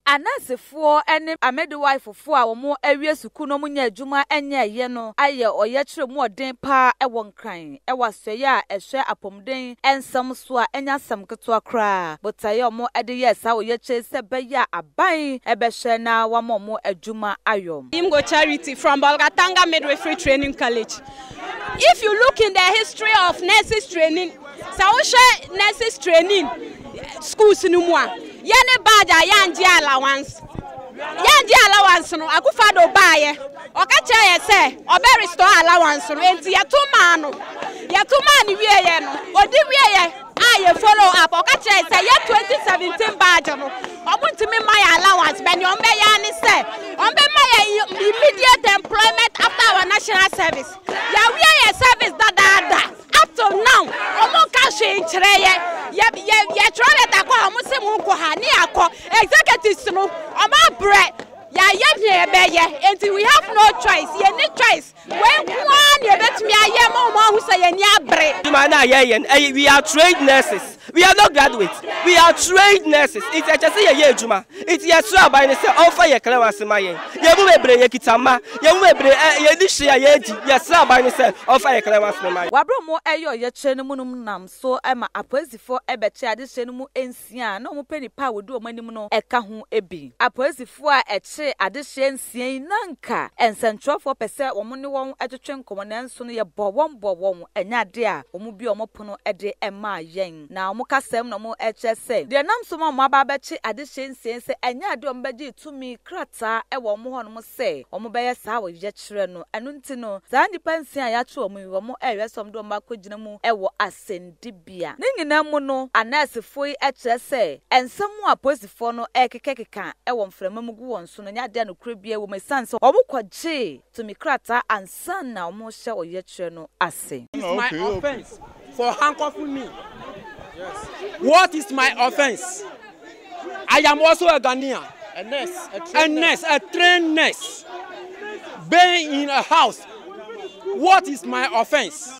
Anansefoɔ ne amedewifefoɔ a wɔawie sukuu na wɔnnya adwuma nyɛeɛ no ayɛ ɔyɛkyerɛ mu ɔden pa ara wɔ Nkran wɔ asoɛeɛ a ɛhwɛ apɔmuden nsɛm so a ɛnyɛ asɛm ketewa koraa. Botaeɛ a wɔde yɛɛ saa ɔyɛkyerɛ yi sɛ ɛbɛyɛ a aban bɛhwɛ na wɔama wɔn adwuma ayɔ. Imgo Charity from Bolgatanga Midwifery Training College If you look in the history of nurses training. Sɛ wohwɛ nurses training schools no mu a, yɛ ne badge a yɛangye allowance. Yɛangye allowance no, Akufo-Addo baeɛ, ɔka kyerɛɛ yɛ sɛ ɔbɛ restore allowance no, enti yɛto maa no. Yɛto maa no wieeɛ no, ɔdi wieeɛ a yɛ follow up, ɔka kyerɛɛ yɛ sɛ yɛ 2017 badge no, wɔntumi mma yɛ allowance, but deɛ wɔbɛyɛ ara ne sɛ wɔbɛma yɛ immediate employment after our national service. Yɛawie yɛ service dadaada. Up till now ɔmo nka hwee nkyerɛ yɛ, yɛ yɛ yɛtwerɛ lɛta kɔ a ɔmo se mo nkɔ ha ne yɛakɔ, executives no ɔmo abrɛ, yɛayɛ nea yɛbɛyɛ enti we have no choice, yɛnni choice, wei nko ara na yɛbɛtumi ayɛ ma ɔmo ahu sɛ yɛn ani abere. Adwuma no a yɛyɛ no, ɛyɛ we are trained nurses, We are not graduates, we are trained nurses, nti ɛkyɛ sɛ yɛyɛ adwuma. Nti yɛsrɛ aban no sɛ ɔmfa yɛn kra ase ma yɛn. Yɛn mu bebree, yɛkita mma, yɛn mu bebree ɛ, yɛnni hwee a yɛredi, yɛsrɛ aban no sɛ ɔmfa yɛn kra ase ma yɛn. Wɔabrɛ wɔn a ɛyɛ ɔyɛkyerɛ no mu no nam so ma apolisifo bɛkyeree adehyeɛ no mu nsia a na wɔpɛ nnipa a wɔdi wɔn anim no ka ho bi. Apolisifo a ɛkyeree adehyeɛ nsia yi na anka nsɛntwerɛfoɔ pɛ sɛ wɔne wɔn twetwe nkɔmmɔ nanso no yɛbɔɔ wɔn bɔɔ wɔn Ɛnyɛ ade a wɔbue wɔn pono de maa yɛn, na wɔn kasam na wɔkyerɛ sɛ deɛ ɛnam so ma wɔaba abɛkye adehyeɛ nsiei sɛ ɛnyɛ ade a wɔbɛgyee tumi krataa wɔ wɔn hɔnom sɛ wɔbɛyɛ saa ɔyɛkyerɛ no. Ɛno nti no, saa nnipa nsia a yɛakye wɔn yi, wɔrehwɛ sɛ wɔde wɔn bɛakɔgyina mu wɔ asɛnnibea. Ne nyinaa mu no, anɛɛsefoɔ yi kyerɛ sɛ nsɛm a apolisifoɔ no rekekakeka wɔ mframa mu gu wɔn so no nyɛ ade a nokorɛ biara wɔ mu, ɛsiane sɛ wɔkɔgyee tumi krataa ansa na wɔrehyɛ ɔyɛkyerɛ no ase. What is my offence for handcuffing me? What is my offence? I am also a Ghanaian, a nurse, a trained, a nurse, a trained nurse, being in a house. What is my offence?